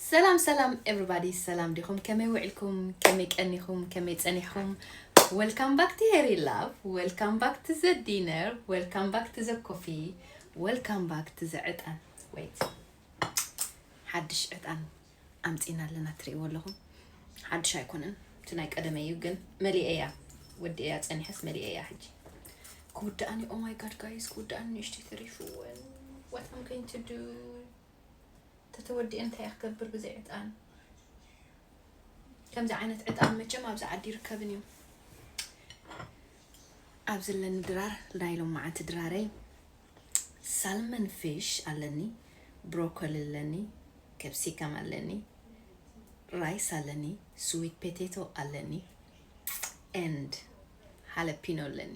ሰላም ሰላም ኤቭሪባዲ ሰላም ዲኹም ከመይ ውዒልኩም ከመይ ቀኒኹም ከመይ ጸኒሕኹም ወልካም ባክ ቲ ሄሪ ላቭ ወልካም ባክ ቲ ዘ ዲነር ወልካም ባክ ቲ ዘ ኮፊ ወልካም ባክ ቲ ዘ ዕጣን ወይት ሓድሽ ዕጣን ኣምፂና ኣለና ትርእይዎ ኣለኹም ሓድሽ ኣይኮነን እቲ ናይ ቀደመ እዩ ግን መሊአ እያ ወዲ እያ ፀኒሐስ መሊአ እያ ሕጂ ክውዳእኒ ኦ ማይ ጋድ ጋይስ ክውዳእኒ ንእሽተይ ተሪፉ እውን what I'm going to do ተተወዲኤ እንታይ እየ ክገብር ብዘይ ዕጣን ከምዚ ዓይነት ዕጣን መቸም ኣብዚ ዓዲ ይርከብን እዩ ኣብ ዘለኒ ድራር ናይ ሎማዓንቲ ድራረይ ሳልመን ፊሽ ኣለኒ ብሮኮሊ ኣለኒ ከብሲካም ኣለኒ ራይስ ኣለኒ ስዊት ፔቴቶ ኣለኒ ኤንድ ሃለፒኖ ኣለኒ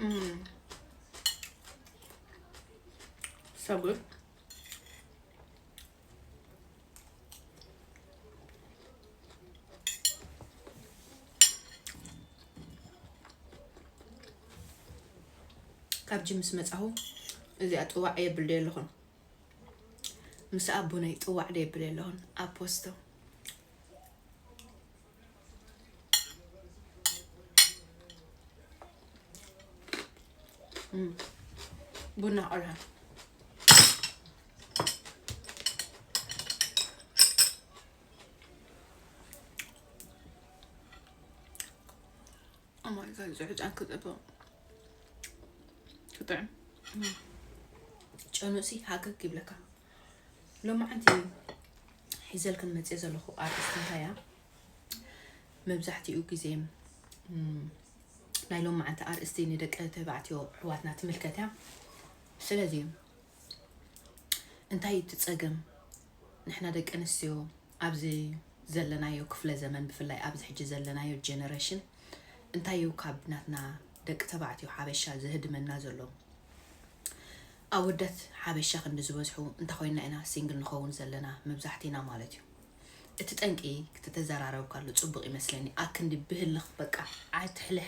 Mm. So good. ካብ ጅምስ መፃኹ እዚኣ ጥዋዕ የብል ዶ ኣለኹን ምስ ኣቦነይ ጥዋዕ ዶ የብል ኣለኹን ኣብ ፖስቶ ቡና ቆልዓ እማይጋይ ዝዕጫን ክፅብቕ ክጥዕም ጨኑሲ ሃገግ ይብለካ ሎማዓንቲ ሒዘልክን መፅኤ ዘለኹ ኣርእስቲ እንታይ እያ መብዛሕትኡ ግዜ ናይ ሎማዓንቲ ኣርእስቲ ንደቂ ተባዕትዮ ኣሕዋትና ትምልከት እያ ስለዚ እንታይ እቲ ፀገም ንሕና ደቂ ኣንስትዮ ኣብዚ ዘለናዮ ክፍለ ዘመን ብፍላይ ኣብዚ ሕጂ ዘለናዮ ጀነሬሽን እንታይ እዩ ካብ ናትና ደቂ ተባዕትዮ ሓበሻ ዝህድመና ዘሎ ኣወዳት ሓበሻ ክንዲ ዝበዝሑ እንተኾይንና ኢና ሲንግል ንኸውን ዘለና መብዛሕቲና ማለት እዩ እቲ ጠንቂ ተተዘራረብካሉ ጽቡቅ ይመስለኒ ኣክንዲ ብህልኽ በቃ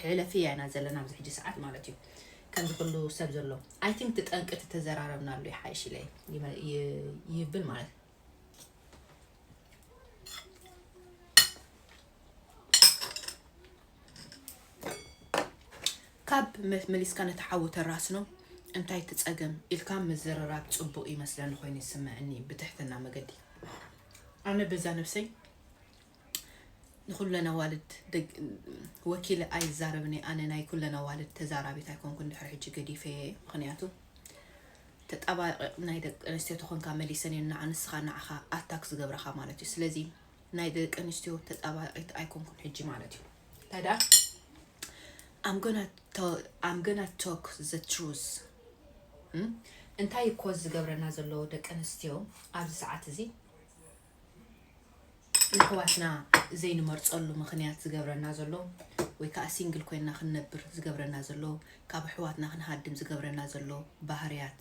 ሕለፍያ ኢና ዘለና ኣብዚ ሕጂ ሰዓት ማለት እዩ ከምዚ ኩሉ ሰብ ዘሎ ኣይ ቲንክ እቲ ጠንቂ ተተዘራረብናሉ ይሓይሽ ኢለ ይብል ማለት እዩ ካብ መሊስካ ነቲ ሓዊ ተራስኖ እንታይ እቲ ጸገም ኢልካ ምዝርራብ ጽቡቅ ይመስለኒ ኮይኑ ይስመዐኒ ብትሕትና መገዲ ኣነ በዛ ነብሰይ ንኩለን ኣዋልድ ወኪለ ኣይዛረብን እየ ኣነ ናይ ኩለን ኣዋልድ ተዛራቢት ኣይኮንኩን ድሕሪ ሕጂ ገዲፈየ እየ ምክንያቱ ተጣባቂቅ ናይ ደቂ ኣንስትዮ ተኮንካ መሊሰን እየን ንዓ ንስካ ንዓካ ኣታክ ዝገብራካ ማለት እዩ ስለዚ ናይ ደቂ ኣንስትዮ ተጣባቂት ኣይኮንኩን ሕጂ ማለት እዩ ታዳ I'm gonna tell I'm gonna talk the truth እንታይ እኮ ዝገብረና ዘሎ ደቂ ኣንስትዮ ኣብዚ ሰዓት እዚ ንሕዋትና ዘይንመርፀሉ ምክንያት ዝገብረና ዘሎ ወይ ከዓ ሲንግል ኮይና ክንነብር ዝገብረና ዘሎ ካብ ኣሕዋትና ክንሃድም ዝገብረና ዘሎ ባህርያት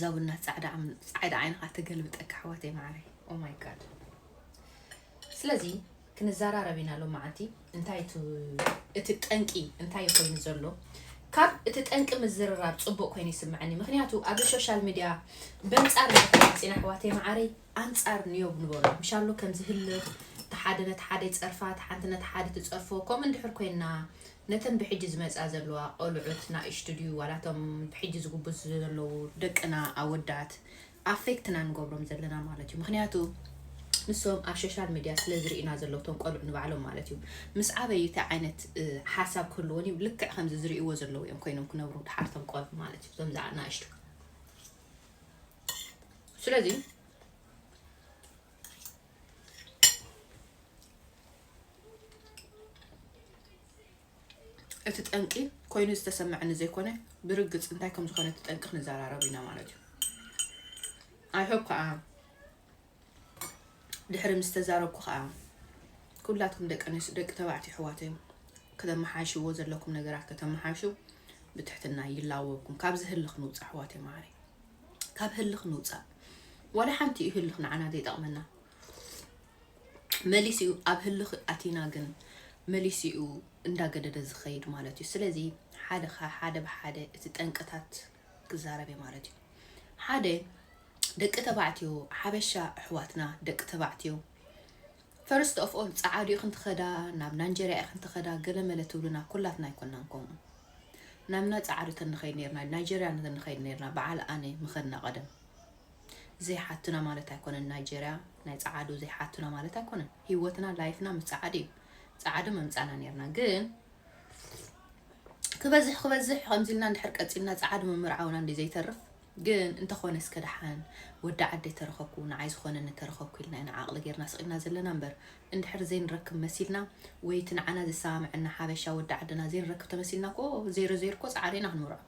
ዛውነት ፃዕዳ ዓይንኻ ትገልብጠ ካሕወት የማዕረ ኦማይ ጋድ ስለዚ ክንዘራረብ ኢና ሎ መዓልቲ እንታይ እቲ ጠንቂ እንታይ ኮይኑ ዘሎ ካብ እቲ ጠንቂ ምዝርራብ ፅቡቅ ኮይኑ ይስምዐኒ ምክንያቱ ኣብዚ ሶሻል ሚድያ በንፃር መፅና ኣሕዋት የማዓረይ ኣንጻር ንዮብ ንበሮ ምሻሉ ከም ዝህልኽ፣ እቲ ሓደ ነቲ ሓደ ይጸርፋ፣ እቲ ሓንቲ ነታ ሓዲ ትጸርፎ፣ ከምኡ እንድሕር ኮይንና፣ ነተን ብሕጂ ዝመጻ ዘለዋ ቆልዑት ናእሽቱ ድዩ ዋላ እቶም ብሕጂ ዝጉብዙ ዘለዉ ደቅና ኣወዳት ኣፌክት ኢና ንገብሮም ዘለና ማለት እዩ። ምኽንያቱ ንሶም ኣብ ሾሻል ምድያ ስለ ዝርእዩና ዘለዉ እቶም ቆልዑ ንባዕሎም ማለት እዩ። ምስ ዓበዩ እንታይ ዓይነት ሓሳብ ክህልዎን እዩ፣ ልክዕ ከምዚ ዝርእይዎ ዘለዉ እዮም ኮይኖም ክነብሩ ደሓር እቶም ቆልዑ ማለት እዩ፣ እዞም ናእሽቱ። ስለዚ እቲ ጠንቂ ኮይኑ ዝተሰምዐኒ ዘይኮነ ብርግፅ እንታይ ከም ዝኾነ እቲ ጠንቂ ክንዘራረብ ኢና ማለት እዩ ኣይሆብ ከዓ ድሕሪ ምስ ተዛረብኩ ከኣ ኩላትኩም ደቂ ኣንስትዮ ደቂ ተባዕትዮ ኣሕዋተይ ከተመሓይሽዎ ዘለኩም ነገራት ከተመሓይሹ ብትሕትና ይላወብኩም ካብዚ ህልኽ ንውፃእ ኣሕዋተይ መዓረይ ካብ ህልኽ ንውፃእ ዋላ ሓንቲ እዩ ህልኽ ንዓና ዘይጠቕመና መሊስ እዩ ኣብ ህልኽ ኣቲና ግን መሊስ እዩ እንዳገደደ ዝኸይድ ማለት እዩ ስለዚ ሓደ ሓደ ብሓደ እቲ ጠንቅታት ክዛረብ ማለት እዩ ሓደ ደቂ ተባዕትዮ ሓበሻ ኣሕዋትና ደቂ ተባዕትዮ ፈርስት ኦፍ ኦል ጸዓዱ ኢኽን ትኸዳ ናብ ናንጀርያ ኢኽን ትኸዳ ገለመለ ትብሉና ኩላትና ኣይኮናን ከምኡ ናምና ጸዓዱ ተንኸይድ ነርና ናይጀርያ ተንኸይድ ነርና በዓል ኣነ ምኸድና ቀደም ዘይሓቱና ማለት ኣይኮነን ናይጀርያ ናይ ጸዓዱ ዘይሓቱና ማለት ኣይኮነን ህይወትና ላይፍና ምስ ጸዓዱ እዩ ጸዓዱ መምጻና ነርና ግን ክበዝሕ ክበዝሕ ከምዚ ኢልና እንድሕር ቀጺልና ጸዓዱ ምምርዓውና እንዲ ዘይተርፍ ግን እንተኾነ እስከ ደሓን ወዲ ዓደይ ተረኸብኩ ንዓይ ዝኾነኒ ተረኸብኩ ኢልና ኢና ዓቕሊ ጌርና ስቒልና ዘለና እምበር እንድሕር ዘይንረክብ መሲልና ወይ እቲ ንዓና ዘሰማምዐና ሓበሻ ወዲ ዓድና ዘይንረክብ ተመሲልና እኮ ዜሮ ዜሮ እኮ ጻዕሪ ኢና ክንምርዖ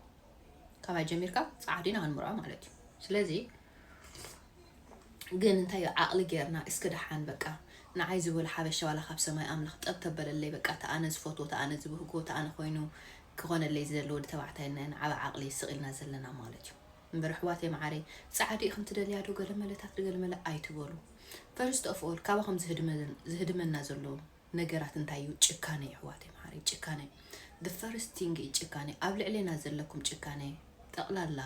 ካባይ ጀሚርካ ጻዕሪ ኢና ክንምርዖ ማለት እዩ ስለዚ ግን እንታይ እዩ ዓቕሊ ጌርና እስከ ደሓን በቃ ንዓይ ዝበሎ ሓበሻ ዋላ ካብ ሰማይ ኣምላኽ ጠብ ተበለለይ በቃ ተኣነ ዝፈትዎ ተኣነ ዝብህጎ ተኣነ ኮይኑ ክኾነለይ ዝደሊ ወዲ ተባዕታይ እነሀና ዓቢ ዓቅሊ ስቅ ኢልና ዘለና ማለት እዩ እምበር ኣሕዋተይ መዓረይ ጻዕዲ ኢክን ትደልያ ዶ ገለመለታት ድገልመለ ኣይትበሉ ፈርስት ኦፍ ኦል ካባኹም ዝህድመና ዘሎ ነገራት እንታይ እዩ ጭካነ እዩ ኣሕዋተይ መዓረይ ጭካነ the first thing እዩ ጭካነ ኣብ ልዕሌና ዘለኩም ጭካነ ጠቅላላ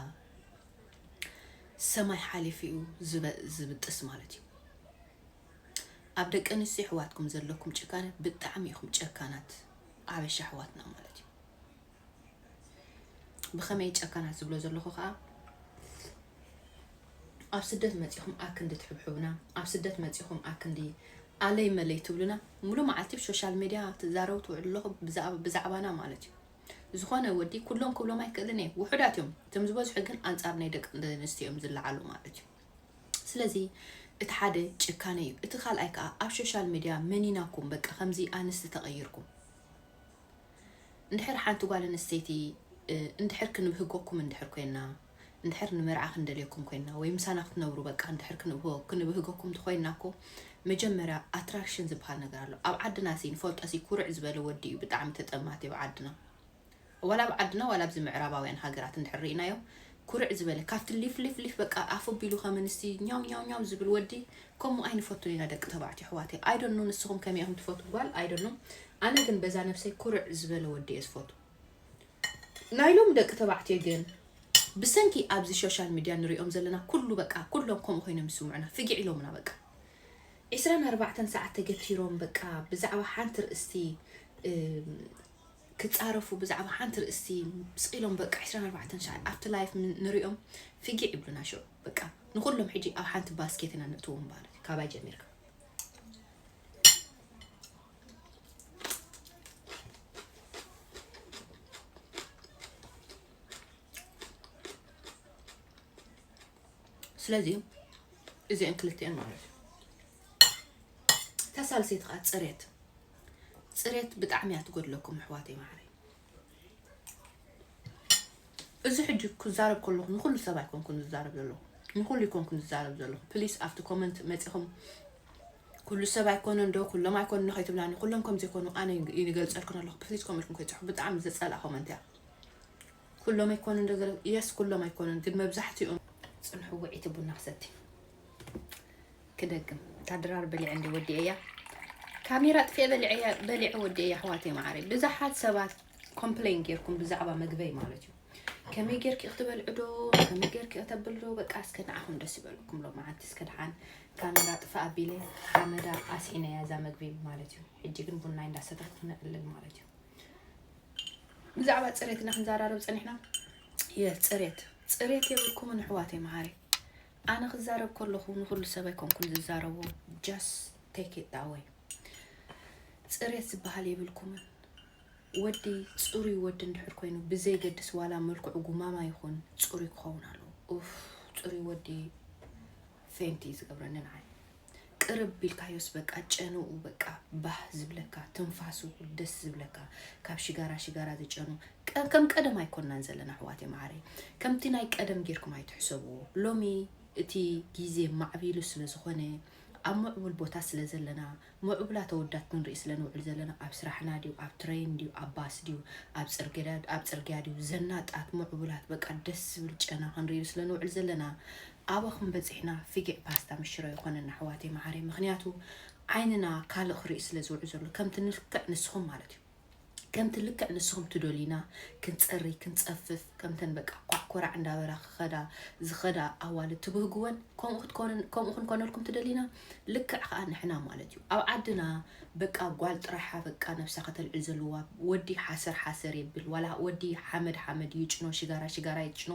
ሰማይ ሓሊፉ እዩ ዝብጥስ ማለት እዩ ኣብ ደቂ ኣንስትዮ ኣሕዋትኩም ዘለኩም ጭካነ ብጣዕሚ ኢኹም ጨካናት ኣበሻ ኣሕዋትና ማለት እዩ ብኸመይ ጨካናት ዝብሎ ዘለኹ ከዓ ኣብ ስደት መፂኹም ኣክንዲ ትሕብሕቡና ኣብ ስደት መፂኹም ኣክንዲ ኣለይ መለይ ትብሉና ሙሉ መዓልቲ ብሶሻል ሚድያ ትዛረቡ ትውዕሉ ኣለኹ ብዛዕባና ማለት እዩ ዝኾነ ወዲ ኩሎም ክብሎም ኣይክእልን እየ ውሑዳት እዮም እቶም ዝበዝሑ ግን ኣንፃር ናይ ደቂ ኣንስትዮ እዮም ዝለዓሉ ማለት እዩ ስለዚ እቲ ሓደ ጭካነ እዩ እቲ ካልኣይ ከዓ ኣብ ሶሻል ሚድያ መኒናኩም በቃ ከምዚ ኣንስቲ ተቐይርኩም እንድሕር ሓንቲ ጓል ኣንስተይቲ እንድሕር ክንብህገኩም እንድሕር ኮይና እንድሕር ንመርዓ ክንደልየኩም ኮይና ወይ ምሳና ክትነብሩ በቃ እንድሕር ክንብህገኩም ተኮይና እኮ መጀመርያ ኣትራክሽን ዝበሃል ነገር ኣሎ ኣብ ዓድና ሲ ንፈልጦ ሲ ኩርዕ ዝበለ ወዲ እዩ ብጣዕሚ ተጠማቲ ኣብ ዓድና ዋላ ኣብ ዓድና ዋላ ኣብዚ ምዕራባውያን ሃገራት እንድሕር ሪኢናዮ ኩርዕ ዝበለ ካብቲ ሊፍ ሊፍ ሊፍ በቃ ኣፉ ኣቢሉ ከም ኣንስቲ ኛው ኛው ኛው ዝብል ወዲ ከምኡ ኣይንፈቱን ኢና ደቂ ተባዕትዮ ኣሕዋተይ ኣይ ዶንት ኖ ንስኹም ከመይ ኢኹም ትፈትዉ ጓል ኣይ ዶንት ኖ ኣነ ግን በዛ ነብሰይ ኩርዕ ዝበለ ወዲ እየ ዝፈቱ ናይ ሎም ደቂ ተባዕትዮ ግን ብሰንኪ ኣብዚ ሶሻል ሚድያ ንሪኦም ዘለና ኩሉ በቃ ኩሎም ከምኡ ኮይኖም ይስምዑና ፍጊዕ ኢሎምና በቃ ዒስራን ኣርባዕተን ሰዓት ተገቲሮም በቃ ብዛዕባ ሓንቲ ርእስቲ ክጻረፉ ብዛዕባ ሓንቲ ርእስቲ ስቅ ኢሎም በቃ ዕስራን ኣርባዕተን ሻዕ ኣብቲ ላይፍ ንሪኦም ፊጊዕ ይብሉና ሽዑ በቃ ንኩሎም ሕጂ ኣብ ሓንቲ ባስኬት ኢና ነእትዎም ማለት እዩ ካባይ ጀሚርካ ስለዚ እዚአን ክልቲአን ማለት እዩ ተሳልሰይቲ ከዓ ፅሬት ፅሬት ብጣዕሚ እያ ትጎድለኩም ኣሕዋተይ ማዓረይ እዚ ሕጂ ክዛረብ ከለኹ ንኹሉ ሰብ ኣይኮንኩን ዝዛረብ ዘለኹ ንኹሉ ይኮንኩን ዝዛረብ ዘለኹ ፕሊስ ኣብቲ ኮመንት መፂኹም ኩሉ ሰብ ኣይኮነ እንዶ ኩሎም ኣይኮኑ ንኸይትብላኒ ኩሎም ከም ዘይኮኑ ኣነ ይገልፀልኩን ኣለኹ ፕሊዝ ኮመንትኩም ከይፅሑ ብጣዕሚ ዘፀልኣ ኮመንት እያ ኩሎም ኣይኮኑ እንዶ ዘለ የስ ኩሎም ኣይኮኑን ግን መብዛሕትኦም ፅንሑ ውዒቲ ቡና ክሰቲ ክደግም እታ ድራር በሊዐ እንድየ ወዲኤያ ካሜራ ኣጥፊኤ በሊዐ በሊዐ ወዲኤያ ኣሕዋተይ መዓረይ ብዙሓት ሰባት ኮምፕሌን ጌርኩም ብዛዕባ ምግበይ ማለት እዩ ከመይ ጌርኪ ክትበልዑ ዶ ከመይ ጌርኪ ከተብል ዶ በቃ እስከ ንዓኹም ደስ ይበልኩም ሎመዓንቲ እስከ ደሓን ካሜራ ጥፋ ኣቢለ ሓመዳ ኣስዒነያ እዛ መግቢ ማለት እዩ ሕጂ ግን ቡናይ እንዳሰተኽቲ ንዕልል ማለት እዩ ብዛዕባ ፅሬትና ክንዘራረብ ፀኒሕና የስ ፅሬት ፅሬት የብልኩምን ኣሕዋተይ መሃሪ ኣነ ክዛረብ ከለኹ ንኹሉ ሰብ ኣይኮንኩን ዝዛረቦ just take it that way ፅርየት ዝበሃል የብልኩምን ወዲ ፅሩይ ወዲ እንድሕር ኮይኑ ብዘይገድስ ዋላ መልክዑ ጉማማ ይኹን ፅሩይ ክኸውን ኣለዎ ኡፍ ፅሩይ ወዲ ፌንቲ እዩ ዝገብረኒ ንዓይ ቅርብ ቢልካዮስ በቃ ጨንኡ በቃ ባህ ዝብለካ ትንፋሱ ደስ ዝብለካ ካብ ሽጋራ ሽጋራ ዝጨኑ ከም ቀደም ኣይኮናን ዘለና ኣሕዋት የማዓረይ ከምቲ ናይ ቀደም ጌርኩም ኣይትሕሰብዎ ሎሚ እቲ ግዜ ማዕቢሉ ስለ ዝኾነ ኣብ ምዕቡል ቦታ ስለ ዘለና ምዕቡላ ተወዳት ክንርኢ ስለ ንውዕል ዘለና ኣብ ስራሕና ድዩ ኣብ ትረይን ድዩ ኣብ ባስ ድዩ ኣብ ፅርግያ ድዩ ዘናጣት ምዕቡላት በቃ ደስ ዝብል ጨና ክንርኢ ስለ ንውዕል ዘለና ኣበኹም በጺሕና ፊጊዕ ፓስታ ምስ ሽሮ ይኾነና ኣሕዋተይ መዓረይ ምኽንያቱ ዓይንና ካልእ ክሪኢ ስለ ዝውዕ ዘሎ ከምቲ ልክዕ ንስኹም ማለት እዩ ከምቲ ልክዕ ንስኹም ትዶልይና ክንጸሪ ክንጸፍፍ ከምተን በቃ ኳዕ ኮራዕ እንዳበላ ክኸዳ ዝኸዳ ኣዋልድ ትብህግወን ከምኡ ክትኮነ ከምኡ ክንኮነልኩም ትደልይና ልክዕ ከዓ ንሕና ማለት እዩ ኣብ ዓድና በቃ ጓል ጥራሓ በቃ ነብሳ ከተልዕል ዘለዋ ወዲ ሓሰር ሓሰር የብል ዋላ ወዲ ሓመድ ሓመድ ይጭኖ ሽጋራ ሽጋራ ይጭኖ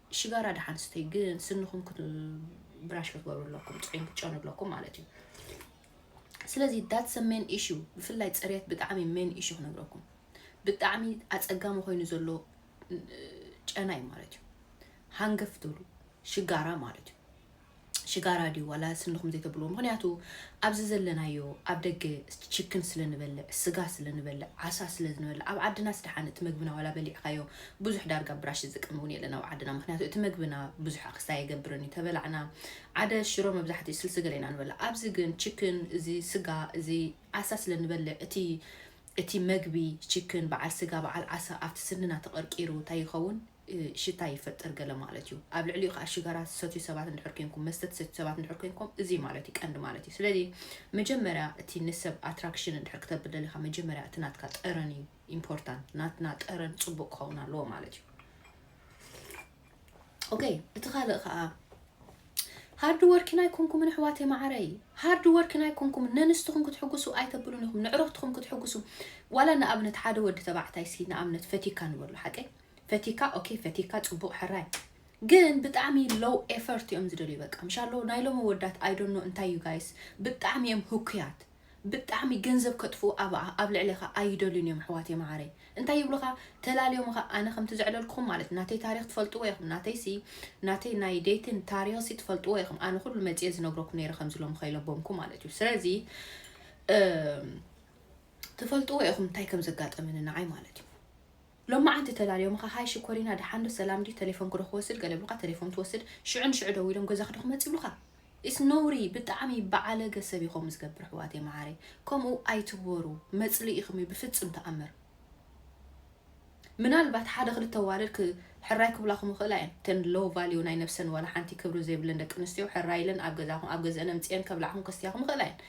ሽጋራ ደሓን ስተዩ ግን ስንኹም ብራሽ ክትገብሩ ኣለኩም ፅዕም ክትጨኑ ኣለኩም ማለት እዩ ስለዚ ዳትሰ ሜን ኢሹ ብፍላይ ፅሬት ብጣዕሚ ሜን ኢሹ ክነግረኩም ብጣዕሚ ኣፀጋሚ ኮይኑ ዘሎ ጨና እዩ ማለት እዩ ሃንገፍ ትብሉ ሽጋራ ማለት እዩ ሽጋራ ድዩ ዋላ ስንኹም ዘይተብልዎ ምኽንያቱ ኣብዚ ዘለናዮ ኣብ ደገ ችክን ስለ ንበልዕ ስጋ ስለ ንበልዕ ዓሳ ስለ ንበልዕ ኣብ ዓድናስ ደሓን እቲ መግብና ዋላ በሊዕካዮ ብዙሕ ዳርጋ ብራሽ ዝጥቀም እውን የለን ኣብ ዓድና ምክንያቱ እቲ መግብና ብዙሕ ኣክስታ የገብርን እዩ ተበላዕና ዓደ ሽሮ መብዛሕትኡ ስልሲ ገለ ኢና ንበልዕ ኣብዚ ግን ችክን እዚ ስጋ እዚ ዓሳ ስለ ንበልዕ እቲ እቲ መግቢ ችክን በዓል ስጋ በዓል ዓሳ ኣብቲ ስንና ተቐርቂሩ እንታይ ይኸውን ሽታ ይፈጥር ገለ ማለት እዩ። ኣብ ልዕሊኡ ከኣ ሽጋራ ትሰትዩ ሰባት እንድሕር ኴንኩም፣ መስተ ትሰትዩ ሰባት እንድሕር ኴንኩም እዚ ማለት እዩ ቀንዲ ማለት እዩ። ስለዚ መጀመርያ እቲ ንሰብ ኣትራክሽን እንድሕር ክተብል ደሊኻ መጀመርያ እቲ ናትካ ጠረን እዩ ኢምፖርታንት። ናትና ጠረን ጽቡቕ ክኸውን ኣለዎ ማለት እዩ። ኦከይ እቲ ካልእ ከኣ ሃርድ ወርኪን ኣይኮንኩምን ኣሕዋተይ መዓረይ ሃርድ ወርኪን ኣይኮንኩምን ነንስትኹም ክትሕጉሱ ኣይተብሉን ኢኹም ንዕረኽትኹም ክትሕጉሱ ዋላ ንኣብነት ሓደ ወዲ ተባዕታይ ሲ ንኣብነት ፈቲካ ንበሉ ሓቀይ ፈቲካ ኦኬ ፈቲካ ጽቡቅ ሕራይ ግን ብጣዕሚ ሎው ኤፈርት እዮም ዝደልዩ በቃ ምሻሎ ናይ ሎሚ ወዳት ኣይዶኖ እንታይ እዩ ጋይስ ብጣዕሚ እዮም ህኩያት ብጣዕሚ ገንዘብ ከጥፍኡ ኣብ ልዕሌኻ ኣይደልዩን እዮም ኣሕዋትየ መዓረይ እንታይ ይብሉኻ ተላልዮምኻ ኣነ ከምቲ ዘዕለልኩኹም ማለት ናተይ ታሪክ ትፈልጥዎ ኢኹም ናተይሲ ናተይ ናይ ደይትን ታሪክሲ ትፈልጥዎ ኢኹም ኣነ ኩሉ መፅየ ዝነግረኩም ነይረ ከምዚ ሎም ከይለቦምኩ ማለት እዩ ስለዚ ትፈልጥዎ ኢኹም እንታይ ከም ዘጋጠመኒ ንዓይ ማለት እዩ ሎማዓንቲ ተላልዮምኻ ሃይ ሽኮሪና ደሓን ዶ ሰላም ድዩ ተሌፎን ክዶ ክወስድ ገለ ብሉካ ተሌፎን ትወስድ ሽዑ ንሽዑ ደዊሎም ገዛኺ ዶ ክመጽ ይብሉኻ ኢስ ነውሪ ብጣዕሚ ባዓለገ ሰብ እዩ ከምኡ ዝገብር ኣሕዋተይ መዓረይ ከምኡ ኣይትግበሩ መጽልኢኹም እዩ ብፍጽም ተኣምር ምናልባት ሓደ ክልተ ኣዋልድ ክ ሕራይ ክብላኹም ይኽእላ እየን እተን ሎው ቫልዩ ናይ ነብሰን ዋላ ሓንቲ ክብሪ ዘይብለን ደቂ ኣንስትዮ ሕራይ ኢለን ኣብ ገዛኹም ኣብ ገዝአን ኣምጽኤን ከብላዕኹም ከስትያኹም ይኽእላ እየን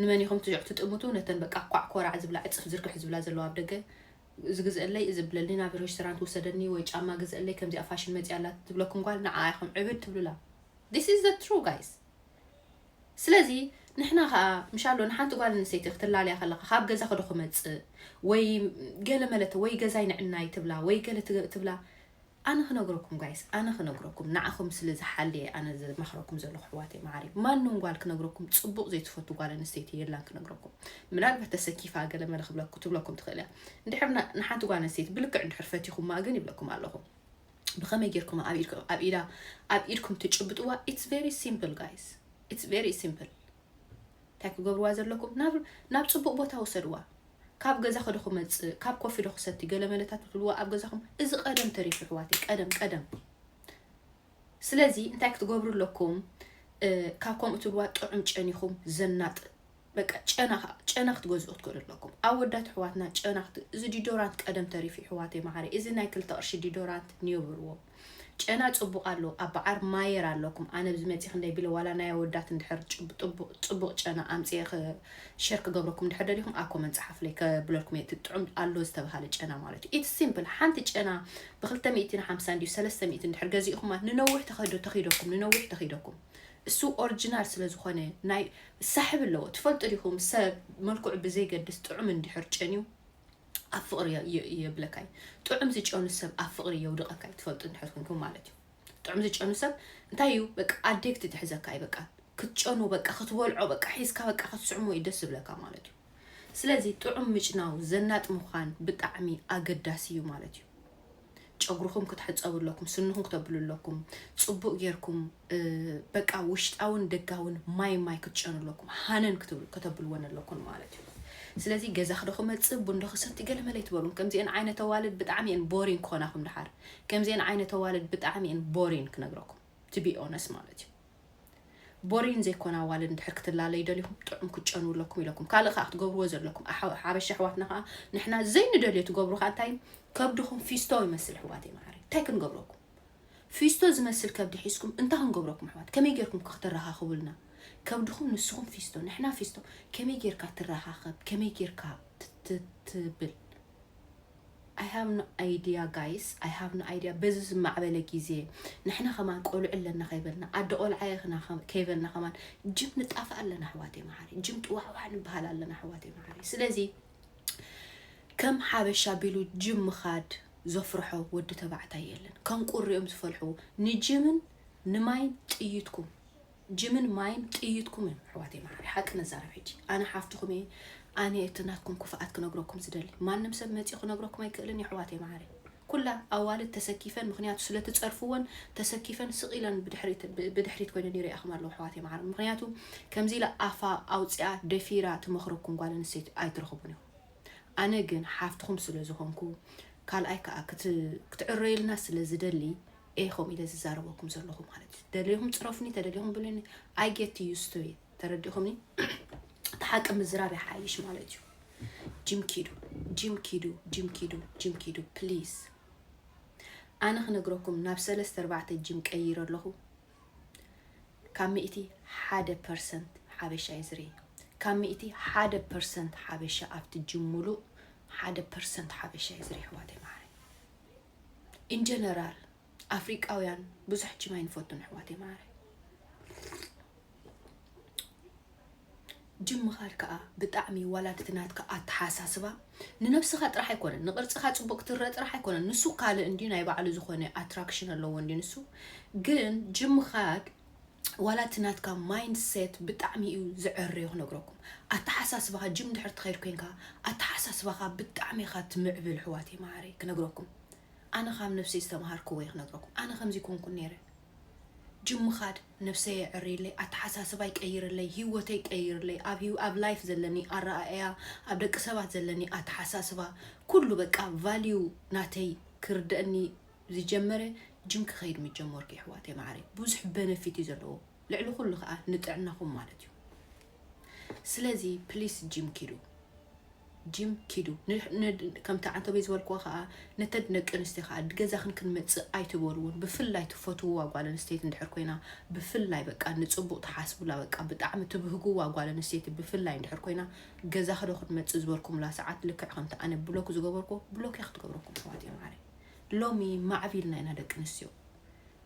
ንመን ኢኹም ትጥምቱ ነተን በቃ ኳዕ ኮራዕ ዝብላ ዕጽፍ ዝርግሕ ዝብላ ዘለዋ ኣብ ደገ ዝግዝእለይ እዚ ብለኒ ናብ ሬስቶራንት ውሰደኒ ወይ ጫማ ግዝእለይ ከምዚኣ ፋሽን መጺኣ ኣላ ትብለኩም ጓል ንዓኣ ኢኹም ዕብድ ትብሉላ this is the true guys ስለዚ ንሕና ከዓ ምሻሎ ንሓንቲ ጓል ኣንስተይቲ ክትላለያ ከለካ ካብ ገዛ ክዶ ክመፅእ ወይ ገለ መለተ ወይ ገዛይ ንዕናይ ትብላ ወይ ገለ ትብላ ኣነ ክነግረኩም ጋይስ ኣነ ክነግረኩም ንዓኹም ስለ ዝሓሊ እየ ኣነ ዝመኽረኩም ዘለኹ ኣሕዋተይ መዓረይ ማንም ጓል ክነግረኩም ፅቡቕ ዘይትፈቱ ጓል ኣንስተይቲ የላን ክነግረኩም ምናልባት ተሰኪፋ ገለ መለ ክብለኩ ትብለኩም ትኽእል እያ እንድሕር ና- ንሓንቲ ጓል ኣንስተይቲ ብልክዕ እንድሕር ፈቲኹማ ግን ይብለኩም ኣለኹ ብኸመይ ጌርኩም ኣብ ኢድኩ- ኣብ ኢዳ ኣብ ኢድኩም ትጭብጥዋ ኢትስ ቬሪ ሲምፕል ጋይስ ኢትስ ቬሪ ሲምፕል ታይ ክገብርዋ ዘለኩም ናብ ናብ ጽቡቅ ቦታ ውሰድዋ ካብ ገዛ ከዶ ክመጽእ ካብ ኮፊ ዶ ክሰቲ ገለመለታት ትብልዋ ኣብ ገዛኩም እዚ ቀደም ተሪፉ ኣሕዋተይ ቀደም ቀደም ስለዚ እንታይ ክትገብሩ ኣለኩም ካብ ከምኡ ትብልዋ ጥዑም ጨኒኹም ዘናጥ በቃ ጨና ጨና ክትገዝኡ ክትክእሉ ኣለኩም ኣወዳት ኣሕዋትና ጨና እዚ ዲዶራንት ቀደም ተሪፉ ኣሕዋተይ መዓረይ እዚ ናይ ክልተ ቅርሺ ዲዶራንት ንየብርዎም ጨና ጽቡቅ ኣሎ ኣባዓር ማየር ኣለኩም ኣነ ኣብዚ መጺ ክንደይ ቢለ ዋላ ናይ ኣወዳት እንድሕር ጽቡቅ ጨና ኣምጺ ሸር ክገብረኩም እንድሕር ደሊኩም ኣኮመን ጸሓፍለይ ከብለልኩም እየ እቲ ጥዑም ኣሎ ዝተባሃለ ጨና ማለት እዩ ኢትስ ሲምፕል ሓንቲ ጨና ብክልተ ሚእትን ሓምሳ እንዲዩ ሰለስተ ሚእቲ እንድሕር ገዚእኹማ ንነዊሕ ተኸዶ ተኺደኩም ንነዊሕ ተኺደኩም እሱ ኦሪጂናል ስለ ዝኾነ ናይ ሳሕብ ኣለዎ ትፈልጡ ዲኹም ሰብ መልክዑ ብዘይገድስ ጥዑም እንድሕር ጨንዩ ኣብ ፍቕሪ የብለካ እዩ ጥዑም ዝጨኑ ሰብ ኣብ ፍቕሪ የውድቐካ እዩ ትፈልጡ እንድሕር ኮንኩም ማለት እዩ ጥዑም ዝጨኑ ሰብ እንታይ እዩ በቃ ኣዴክቲ ትሕዘካ እዩ በቃ ክትጨኑ በቃ ክትበልዖ በቃ ሒዝካ በቃ ክትስዕሞ እዩ ደስ ዝብለካ ማለት እዩ ስለዚ ጥዑም ምጭናው ዘናጥ ምዃን ብጣዕሚ ኣገዳሲ እዩ ማለት እዩ ጨጉርኹም ክትሕፀቡ ኣለኩም ስንኹም ክተብሉ ኣለኩም ፅቡቅ ጌርኩም በቃ ውሽጣውን ደጋውን ማይ ማይ ክትጨኑ ኣለኩም ሃነን ከተብልወን ኣለኩን ማለት እዩ ስለዚ ገዛ ክዶ ክመፅእ ቡንዶ ክሰቲ ገለ መለ ይትበሉን ከምዚአን ዓይነት ኣዋልድ ብጣዕሚ እየን ቦሪን ክኾናኹም ድሓር ከምዚአን ዓይነት ኣዋልድ ብጣዕሚ እየን ቦሪን ክነግረኩም ትቢ ኦነስ ማለት እዩ ቦሪን ዘይኮን ኣዋልድ እንድሕር ክትላለዩ ደሊኹም ጥዑም ክትጨንዉ ኣለኩም ኢለኩም ካልእ ከዓ ክትገብርዎ ዘለኩም ሓበሻ ኣሕዋትና ከዓ ንሕና ዘይንደልዮ ትገብሩ ከዓ እንታይ ከብድኹም ፊስቶ ይመስል ኣሕዋተይ መዓረይ እንታይ ክንገብረኩም ፊስቶ ዝመስል ከብዲ ሒዝኩም እንታይ ክንገብረኩም ኣሕዋት ከመይ ጌርኩም ክትረኻኽቡልና ከብድኹም ንስኹም ፊስቶ ንሕና ፊስቶ ከመይ ጌርካ ትረኻኸብ ከመይ ጌርካ ትብል I have no idea guys I have no idea በዚ ዝማዕበለ ግዜ ንሕና ከማን ቆልዑ ኣለና ከይበልና ኣደ ቆልዓ እየ ክና ከ- ከይበልና ከማን ጅም ንጣፋእ ኣለና ኣሕዋተይ መዓረይ ጅም ጥዋዕዋዕ ንበሃል ኣለና ኣሕዋተይ መዓረይ ስለዚ ከም ሓበሻ ቢሉ ጅም ምኻድ ዘፍርሖ ወዲ ተባዕታይ የለን ከም ቁሪኦም ዝፈልሕዎ ንጅምን ንማይን ጥይትኩም ጅምን ማይን ጥይትኩም እዮም ኣሕዋተይ ማዓረይ ሓቂ ንዛረብ ሕጂ ኣነ ሓፍትኩም እየ ኣነ እየ እቲ ናትኩም ክፍኣት ክነግረኩም ዝደሊ ማንም ሰብ መፂኡ ክነግረኩም ኣይክእልን እዩ ኣሕዋተይ ማዓረይ ኩላ ኣዋልድ ተሰኪፈን ምክንያቱ ስለትፀርፍወን ተሰኪፈን ስቅ ኢለን ብድሕሪት ኮይነን ይሪኣኹም ኣለዎ ኣሕዋተይ ማዓረይ ምክንያቱ ከምዚ ኢላ ኣፋ ኣውፅኣ ደፊራ ትመክረኩም ጓል ኣንስተይቲ ኣይትረኽቡን ኢኹም ኣነ ግን ሓፍትኩም ስለዝኾንኩ ካልኣይ ከዓ ክትዕረዩልና ስለዝደሊ ኢኹም ኢለ ዝዛረበኩም ዘለኹ ማለት እዩ ደልኹም ፅረፉኒ ተደሊኹም ብሉኒ ኣይ ጌት ዩስ ቱ ተረዲኹምኒ እቲ ሓቂ ምዝራብ ይሓይሽ ማለት እዩ ጂም ኪዱ ጂም ኪዱ ጂም ኪዱ ጂም ኪዱ ፕሊዝ ኣነ ክነግረኩም ናብ ሰለስተ ኣርባዕተ ጂም ቀይረ ኣለኹ ካብ ሚእቲ ሓደ ፐርሰንት ሓበሻ እዩ ዝርኢ ካብ ሚእቲ ሓደ ፐርሰንት ሓበሻ ኣብቲ ጂም ሙሉእ ሓደ ፐርሰንት ሓበሻ እዩ ዝርኢ ኣሕዋተይ መዓረይ ኢን ጀነራል ኣፍሪቃውያን ብዙሕ ጂም ኣይንፈቱን ኣሕዋተይ መዓረይ ጅም ምኻድ ከዓ ብጣዕሚ ዋላ እቲ ናትካ ኣተሓሳስባ ንነብስኻ ጥራሕ ኣይኮነን ንቅርፅኻ ፅቡቅ ክትረአ ጥራሕ ኣይኮነን ንሱ ካልእ እንዲ ናይ ባዕሉ ዝኾነ ኣትራክሽን ኣለዎ እንዲ ንሱ ግን ጅም ምኻድ ዋላ እቲ ናትካ ማይንድ ሴት ብጣዕሚ እዩ ዝዕርዮ ክነግረኩም ኣተሓሳስባኻ ጅም ድሕር ትኸይድ ኮይንካ ኣተሓሳስባኻ ብጣዕሚ ኢኻ ትምዕብል ሕዋተይ መዓረይ ክነግረኩም ኣነ ካብ ነብሰይ ዝተምሃርክዎ እየ ክነግረኩም ኣነ ከምዚ ኮንኩን ነይረ ጅም ምኻድ ነብሰይ የዕርየለይ ኣተሓሳስባ ይቀይርለይ ሂወተይ ይቀይርለይ ኣብ ሂው ኣብ ላይፍ ዘለኒ ኣረኣእያ ኣብ ደቂ ሰባት ዘለኒ ኣተሓሳስባ ኩሉ በቃ ቫልዩ ናተይ ክርደአኒ ዝጀመረ ጅም ክከይድ ምጀመርኩ የሕዋተይ ማዓረይ ቡዙሕ በነፊት እዩ ዘለዎ ልዕሊ ኩሉ ካዓ ንጥዕናኩም ማለት እዩ ስለዚ ፕሊስ ጅም ኪዱ ጅም ኪዱ ከምቲ ዓንተበይ ዝበልክዎ ከዓ ነተን ደቂ ኣንስትዮ ከዓ ገዛክን ክንመፅእ ኣይትበልዎን ብፍላይ ትፈትውዋ ጓል ኣንስተይቲ እንድሕር ኮይና ብፍላይ በቃ ንፅቡቅ ትሓስቡላ በቃ ብጣዕሚ ትብህግዋ ጓል ኣንስተይቲ ብፍላይ እንድሕር ኮይና ገዛክ ዶ ክንመፅእ ዝበልኩምላ ሰዓት ልክዕ ከምቲ ኣነ ብሎክ ዝገበርኩ ብሎክ ክትገብረኩም ኣሕዋት እዮም ዓረ ሎሚ ማዕቢልና ኢና ደቂ ኣንስትዮ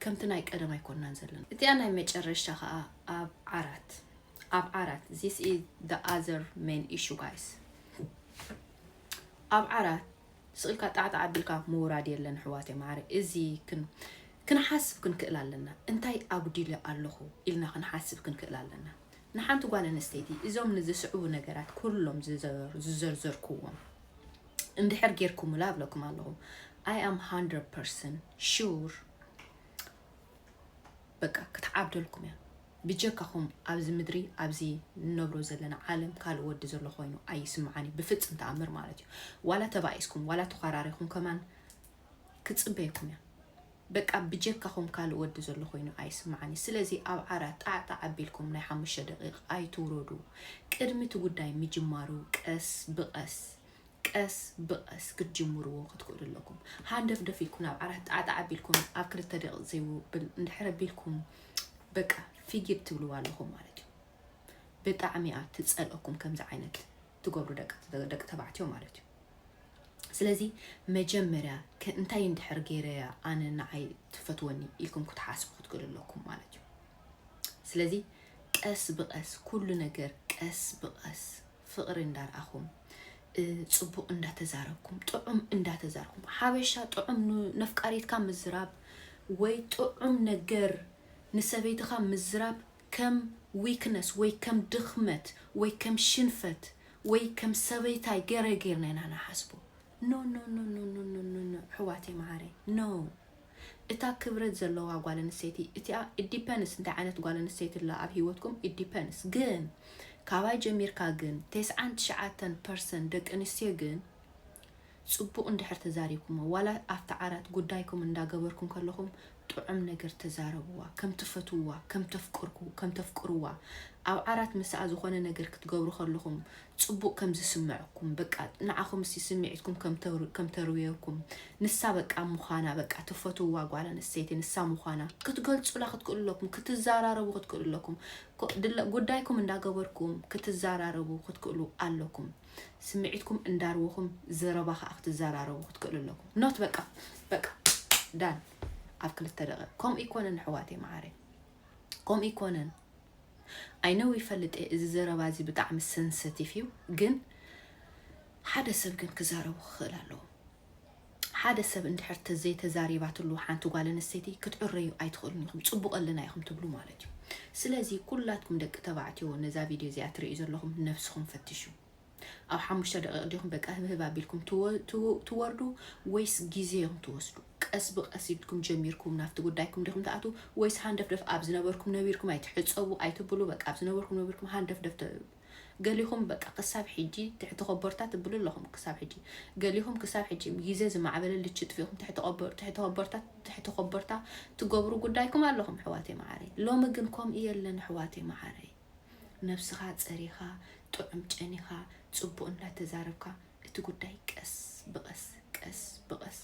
ከምቲ ናይ ቀደም ኣይኮናን ዘለና። እቲኣ ናይ መጨረሻ ከኣ ኣብ ዓራት ኣብ ዓራት this is the other main issue guys ኣብ ዓራት ስቕ ኢልካ ጣዕጣዕ ኣቢልካ ምውራድ የለን ኣሕዋተይ መዓረይ እዚ ክንሓስብ ክንክእል ኣለና እንታይ ኣጉዲለ ኣለኹ ኢልና ክንሓስብ ክንክእል ኣለና ንሓንቲ ጓል ኣንስተይቲ እዞም ንዝስዕቡ ነገራት ኩሎም ዝዘርዘርኩዎም እንድሕር ጌርኩምላ እብለኩም ኣለኹ ኣይ ኣም ሃንድረድ ፐርሰንት ሹር በቃ ክትዓብደልኩም እያ ብጀካኹም ኣብዚ ምድሪ ኣብዚ ንነብሮ ዘለና ዓለም ካልእ ወዲ ዘሎ ኮይኑ ኣይስምዓን እዩ ብፍፅም ተኣምር ማለት እዩ ዋላ ተባኢስኩም ዋላ ተኳራሪኹም ከማን ክፅበየኩም እያ በቃ ብጀካኹም ካልእ ወዲ ዘሎ ኮይኑ ኣይስማዓኒ ስለዚ ኣብ ዓራት ጣዕ ጣዕ ኣቢልኩም ናይ ሓሙሽተ ደቂቅ ኣይትውረዱ ቅድሚ እቲ ጉዳይ ምጅማሩ ቀስ ብቀስ ቀስ ብቀስ ክትጅምርዎ ክትክእሉ ኣለኩም ሃንደፍደፍ ኢልኩም ናብ ዓራት ጣዕ ጣዕ ኣቢልኩም ኣብ ክልተ ደቂቅ ዘይውብል እንድሕር ኣቢልኩም በቃ ፊጊድ ትብልዋ ኣለኹም ማለት እዩ ብጣዕሚ እያ ትጸልኦኩም ከምዚ ዓይነት ትገብሩ ደቂ ተባዕትዮ ማለት እዩ ስለዚ መጀመርያ እንታይ እንድሕር ገይረያ ኣነ ንዓይ ትፈትወኒ ኢልኩም ክትሓስቡ ክትክእሉ ኣለኩም ማለት እዩ ስለዚ ቀስ ብቀስ ኩሉ ነገር ቀስ ብቀስ ፍቅሪ እንዳርኣኹም ፅቡቅ እንዳተዛረብኩም ጥዑም እንዳተዛርኩም ሓበሻ ጥዑም ነፍቃሪትካ ምዝራብ ወይ ጥዑም ነገር ንሰበይትኻ ምዝራብ ከም ዊክነስ ወይ ከም ድኽመት ወይ ከም ሽንፈት ወይ ከም ሰበይታይ ገረ ጌርና ኢና ንሓስቦ ኖኖኖኖኖኖኖኖ ኣሕዋተይ መዓረይ no እታ ክብረት ዘለዋ ጓል ኣንስተይቲ እቲኣ it depends እንታይ ዓይነት ጓል ኣንስተይቲ ኣላ ኣብ ሂወትኩም it depends ግን ካባይ ጀሚርካ ግን ቴስዓን ትሽዓተን ፐርሰን ደቂ ኣንስትዮ ግን ጽቡቅ እንድሕር ተዛሪብኩሞ ዋላ ኣብቲ ዓራት ጉዳይኩም እንዳ ገበርኩም ከለኹም ጥዑም ነገር ተዛረብዋ ከም ትፈትውዋ ከም ተፍቅርኩ ከም ተፍቅርዋ ኣብ ዓራት ምሳኣ ዝኾነ ነገር ክትገብሩ ከለኹም ጽቡቅ ከም ዝስመዐኩም በቃ ንዓኹም እስቲ ስሚዒትኩም ከም ተርውየኩም ንሳ በቃ ምዃና በቃ ትፈትውዋ ጓል ኣንስተይቲ ንሳ ምዃና ክትገልጹላ ክትክእሉ ኣለኩም ክትዛራረቡ ክትክእሉ ኣለኩም ጉዳይኩም እንዳ ገበርኩም ክትዛራረቡ ክትክእሉ ኣለኩም ስምዒትኩም እንዳርወኹም ዘረባ ከኣ ክትዘራረቡ ክትክእሉ ኣለኩም ኖት በቃ በቃ ዳን ኣብ ክልተ ደቂቕ ከምኡ ይኮነን ኣሕዋተይ መዓረይ ከምኡ ይኮነን ኣይነው ይፈልጥ እየ እዚ ዘረባ እዚ ብጣዕሚ ሰንሰቲቭ እዩ ግን ሓደ ሰብ ግን ክዛረቡ ክኽእል ኣለዎ ሓደ ሰብ እንድሕር ተዘይተዛሪባትሉ ሓንቲ ጓል ኣንስተይቲ ክትዕረዩ ኣይትኽእሉን ኢኹም ጽቡቕ ኣለና ኢኹም ትብሉ ማለት እዩ ስለዚ ኩላትኩም ደቂ ተባዕትዮ ነዛ ቪድዮ እዚኣ ትርእዩ ዘለኹም ነብስኹም ፈትሹ ኣብ ሓሙሽተ ደቂቕ ዲኹም በቃ ህብህብ ኣቢልኩም ትወርዱ ወይስ ግዜ ኢኹም ትወስዱ? ቀስ ብቀስ ኢልኩም ጀሚርኩም ናብቲ ጉዳይኩም ዲኹም ትኣትዉ ወይስ ሃንደፍደፍ ኣብ ዝነበርኩም ነቢርኩም ኣይትሕፀቡ ኣይትብሉ በቃ ኣብ ዝነበርኩም ነቢርኩም ሃንደፍደፍ ገሊኹም በቃ ክሳብ ሕጂ ትሕቲ ኮቦርታ ትብሉ ኣለኹም ክሳብ ሕጂ ገሊኹም ክሳብ ሕጂ ግዜ ዝማዕበለ ልቺ ጥፊእኹም ትሕቲ ቆቦ ትሕቲ ኮቦርታ ትሕቲ ኮቦርታ ትገብሩ ጉዳይኩም ኣለኹም ኣሕዋተይ መዓረይ ሎሚ ግን ከምኡ የለን ኣሕዋተይ መዓረይ ነብስኻ ጸሪኻ ጥዑም ጨኒኻ ጽቡቅ እንዳተዛረብካ እቲ ጉዳይ ቀስ ብቀስ ቀስ ብቀስ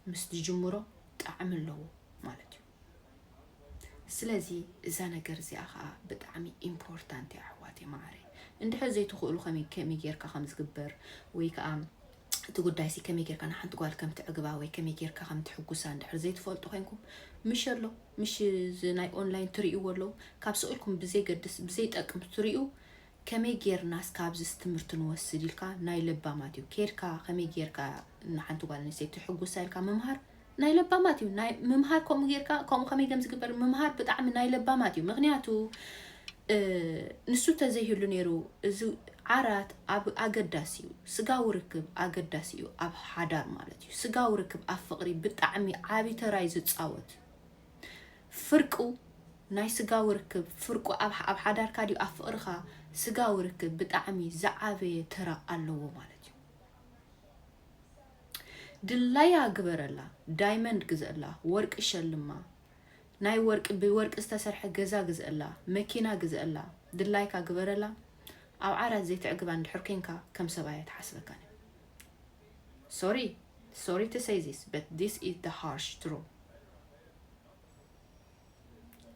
ምስ ትጅምሮ ጣዕሚ ኣለዎ ማለት እዩ ስለዚ እዛ ነገር እዚኣ ከኣ ብጣዕሚ ኢምፖርታንት እያ ኣሕዋተይ መዓረይ እንድሕር ዘይትኽእሉ ከመይ ከመይ ጌርካ ከም ዝግበር ወይ ከኣ እቲ ጉዳይሲ ከመይ ጌርካ ንሓንቲ ጓል ከም ትዕግባ ወይ ከመይ ጌርካ ከም ትሕጉሳ እንድሕር ዘይትፈልጡ ኮንኩም ምሽ ኣሎ ምሽ እዚ ናይ ኦንላይን ትርእይዎ ኣለዉ ካብ ስእልኩም ብዘይገድስ ብዘይጠቅም ትርእዩ ከመይ ጌርናስ ካብዝስ ትምህርቲ ንወስድ ኢልካ ናይ ለባማት እዩ ኬድካ ከመይ ጌርካ ንሓንቲ ጓል ኣንስተይቲ ትሕጉሳ ኢልካ ምምሃር ናይ ለባማት እዩ ናይ ምምሃር ከምኡ ጌርካ ከምኡ ከመይ ከም ዝግበር ምምሃር ብጣዕሚ ናይ ለባማት እዩ ምክንያቱ ንሱ ተዘይህሉ ነይሩ እዚ ዓራት ኣብ ኣገዳሲ እዩ ስጋዊ ርክብ ኣገዳሲ እዩ ኣብ ሓዳር ማለት እዩ ስጋዊ ርክብ ኣብ ፍቅሪ ብጣዕሚ ዓብይ ተራይ ዝፃወት ፍርቁ ናይ ስጋዊ ርክብ ፍርቁ ኣብ ኣብ ሓዳርካ ድዩ ኣብ ፍቅርካ ስጋዊ ርክብ ብጣዕሚ ዝዓበየ ተራ ኣለዎ ማለት እዩ ድላያ ግበረላ ዳይመንድ ግዘላ ወርቂ ሸልማ ናይ ወርቂ ብወርቂ ዝተሰርሐ ገዛ ግዝእላ መኪና ግዝእላ ድላይካ ግበረላ ኣብ ዓራት ዘይትዕግባ እንድሕር ኮንካ ከም ሰብኣያ ትሓስበካን ሶሪ ሶሪ ቱ ሰይ ዚስ በት ዚስ ኢዝ ዘ ሃርሽ ትሩ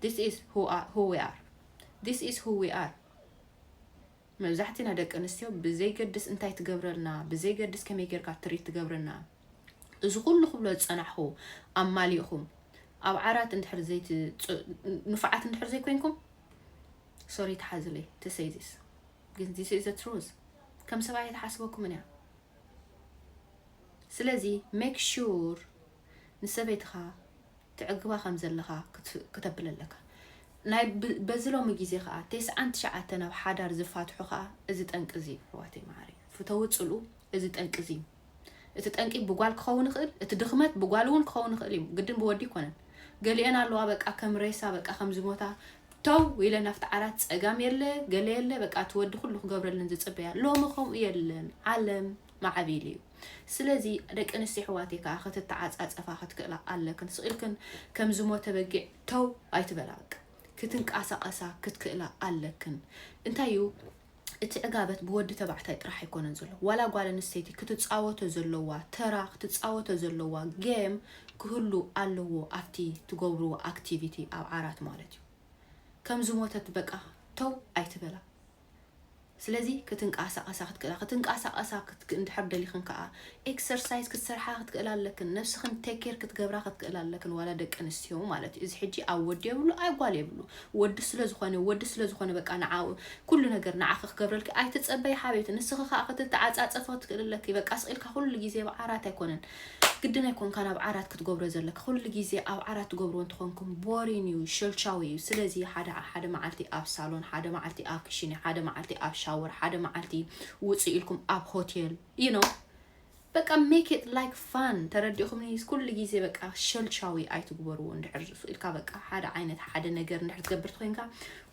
ዚስ ኢዝ ሁ ዊ ኣር ዚስ ኢዝ ሁ ዊ ኣር መብዛሕትና ደቂ ኣንስትዮ ብዘይገድስ እንታይ ትገብረልና ብዘይገድስ ከመይ ጌርካ ትሪት ትገብረና እዚ ኩሉ ክብሎ ዝፀናሕኹ ኣማሊእኹም ኣብ ዓራት እንድሕር ዘይት ንፉዓት እንድሕር ዘይኮይንኩም ሶሪ ተሓዝለይ ተሰይዚስ ግን ዚስ ዘ ትሩዝ ከም ሰብኣይ ተሓስበኩምን እያ ስለዚ ሜክ ሹር ንሰበይትኻ ተዕግባ ከም ዘለኻ ክተብል ኣለካ። ናይ በዚ ሎሚ ግዜ ከዓ ቴስዓን ትሽዓተን ኣብ ሓዳር ዝፋትሑ ከዓ እዚ ጠንቂ እዚ እዩ ሕዋተይ መዓረይ ፍተዊ ፅልኡ እዚ ጠንቂ እዚ እዩ እቲ ጠንቂ ብጓል ክኸውን ይኽእል እቲ ድኽመት ብጓል እውን ክኸውን ይኽእል እዩ ግድን ብወዲ ይኮነን ገሊአን ኣለዋ በቃ ከም ሬሳ በቃ ከም ዝሞታ ተው ኢለን ኣብቲ ዓራት ጸጋም የለ ገለ የለ በቃ እቲ ወዲ ኩሉ ክገብረለን ዝጽበያ ሎሚ ከምኡ የለን ዓለም ማዕቢል እዩ ስለዚ ደቂ ኣንስትዮ ኣሕዋተይ ከዓ ክትተዓፃፀፋ ክትክእላ ኣለክን ስቂልክን ከም ዝሞተ በጊዕ ተው ኣይትበላ በቃ ክትንቀሳቀሳ ክትክእላ ኣለክን እንታይ እዩ እቲ ዕጋበት ብወዲ ተባዕታይ ጥራሕ ኣይኮነን ዘሎ ዋላ ጓል ኣንስተይቲ ክትፃወቶ ዘለዋ ተራ ክትፃወቶ ዘለዋ ጌም ክህሉ ኣለዎ ኣብቲ ትገብርዎ ኣክቲቪቲ ኣብ ዓራት ማለት እዩ ከም ዝሞተት በቃ ተው ኣይትበላ ስለዚ ክትንቃሳቀሳ ክትክእላ ክትንቃሳቀሳ ክትክ እንድሕር ደሊኽን ከዓ ኤክሰርሳይዝ ክትሰርሓ ክትክእላ ኣለክን ነብስክን ቴክ ኬር ክትገብራ ክትክእላ ኣለክን ዋላ ደቂ ኣንስትዮ ማለት እዩ እዚ ሕጂ ኣብ ወዲ የብሉ ኣይ ጓል የብሉ ወዲ ስለ ዝኮነ ወዲ ስለ ዝኮነ በቃ ንዓኡ ኩሉ ነገር ንዓኪ ክገብረልኪ ኣይትጸበይ ሓብየቲ ንስኪ ከኣ ክትተዓጻጸፊ ክትክእሊ ኣለኪ በቃ ስቅ ኢልካ ኩሉ ግዜ ኣብ ዓራት ኣይኮነን ግድን ኣይኮንካን ኣብ ዓራት ክትገብሮ ዘለኪ ኩሉ ግዜ ኣብ ዓራት ትገብርዎ እንትኮንኩም ቦሪን እዩ ሸልቻዊ እዩ ስለዚ ሓደ ሓደ መዓልቲ ኣብ ሳሎን ሓደ መዓልቲ ኣብ ክሽኒ ሓደ መዓልቲ ኣብ ሻወር ሓደ መዓልቲ ውጽእ ኢልኩም ኣብ ሆቴል you know በቃ make it like fun ተረዲእኹምኒ ኩሉ ግዜ በቃ ሸልሻዊ ኣይትግበርዎ እንድሕር ዝፍኢልካ በቃ ሓደ ዓይነት ሓደ ነገር እንድሕር ትገብር ኮይንካ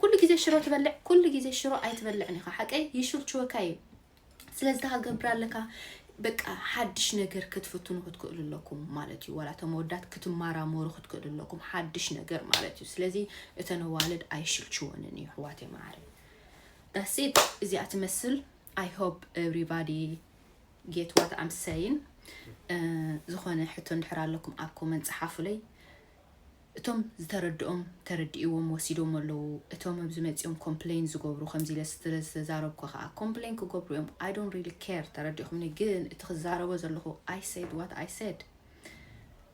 ኩሉ ግዜ ሽሮ ትበልዕ ኩሉ ግዜ ሽሮ ኣይትበልዕን ኢኻ ሓቀይ ይሽልችወካ እዩ ስለዚ ታገብር ኣለካ በቃ ሓድሽ ነገር ክትፍትኑ ክትክእሉ ኣለኩም ማለት እዩ ዋላ እቶም ወዳት ክትማራመሩ ክትክእሉ ኣለኩም ሓድሽ ነገር ማለት እዩ ስለዚ እተን ኣዋልድ ኣይሽልችወንን እዩ ኣሕዋት የማዕረ ዳሴት እዚኣ ትመስል ኣይ ሆፕ ኤቭሪባዲ ጌት ዋት ኣም ሰይን ዝኾነ ሕቶ እንድሕር ኣለኩም ኣብ ኮመንት ፀሓፉለይ እቶም ዝተረድኦም ተረዲእዎም ወሲዶም ኣለዉ እቶም ኣብዚ መፂኦም ኮምፕሌን ዝገብሩ ከምዚ ኢለ ስለዝተዛረብኩ ከዓ ኮምፕሌን ክገብሩ እዮም ኣይ ዶንት ሪሊ ኬር ተረዲእኹምኒ ግን እቲ ክዛረቦ ዘለኹ ኣይ ሰድ ዋት ኣይ ሰድ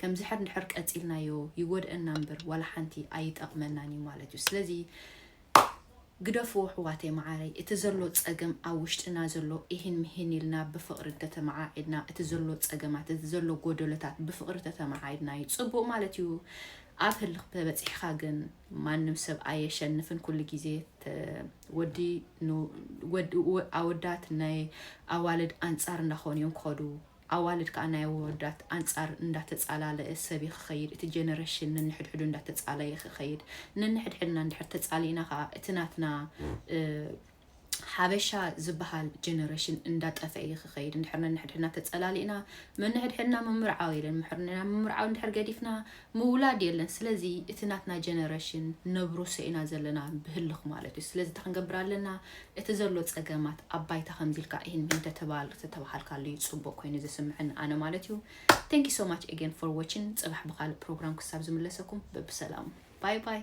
ከምዚ ሕር እንድሕር ቀጺልናዮ ይጎድኣና እምበር ዋላ ሓንቲ ኣይጠቕመናን እዩ ማለት እዩ ስለዚ ግደፍዎ ኣሕዋተይ መዓረይ እቲ ዘሎ ጸገም ኣብ ውሽጥና ዘሎ ኢሂን ምሂን ኢልና ብፍቕሪ እንተተመዓዒድና እቲ ዘሎ ጸገማት እቲ ዘሎ ጎደሎታት ብፍቕሪ ተተመዓዒድና እዩ ጽቡቕ ማለት እዩ ኣብ ህልኽ ተበፂሕኻ ግን ማንም ሰብ ኣየሸንፍን ኩሉ ግዜ ወዲ ኣወዳት ናይ ኣዋልድ ኣንፃር እንዳኾኑ እዮም ክኸዱ ኣዋልድ ከኣ ናይ ኣወዳት ኣንጻር እንዳተጻላለኤ ሰብ እዩ ክኸይድ እቲ ጀነረሽን ነንሕድሕዱ እንዳተጻለየ ክኸይድ ነንሕድሕድና እንድሕር ተጻሊእና ከኣ እቲ ናትና ሓበሻ ዝብሃል ጀነረሽን እንዳጠፈኤ እዩ ክኸይድ እንድሕር ነንሕድሕድና ተጸላሊእና መነሕድሕድና ምምርዓው የለን ምሕርና ምምርዓው እንድሕር ገዲፍና ምውላድ የለን ስለዚ እቲ ናትና ጀነረሽን ነብርሶ ኢና ዘለና ብህልኽ ማለት እዩ ስለዚ እንታይ ክንገብር ኣለና እቲ ዘሎ ጸገማት ኣብ ባይታ ከምዚ ኢልካ ኢሂን ሚሂን ተተባሃልካሉ እዩ ጽቡቅ ኮይኑ ዝስምዐኒ ኣነ ማለት እዩ thank you so much again for watching ጽባሕ ብካልእ ፕሮግራም ክሳብ ዝምለሰኩም በብሰላሙ ባይ ባይ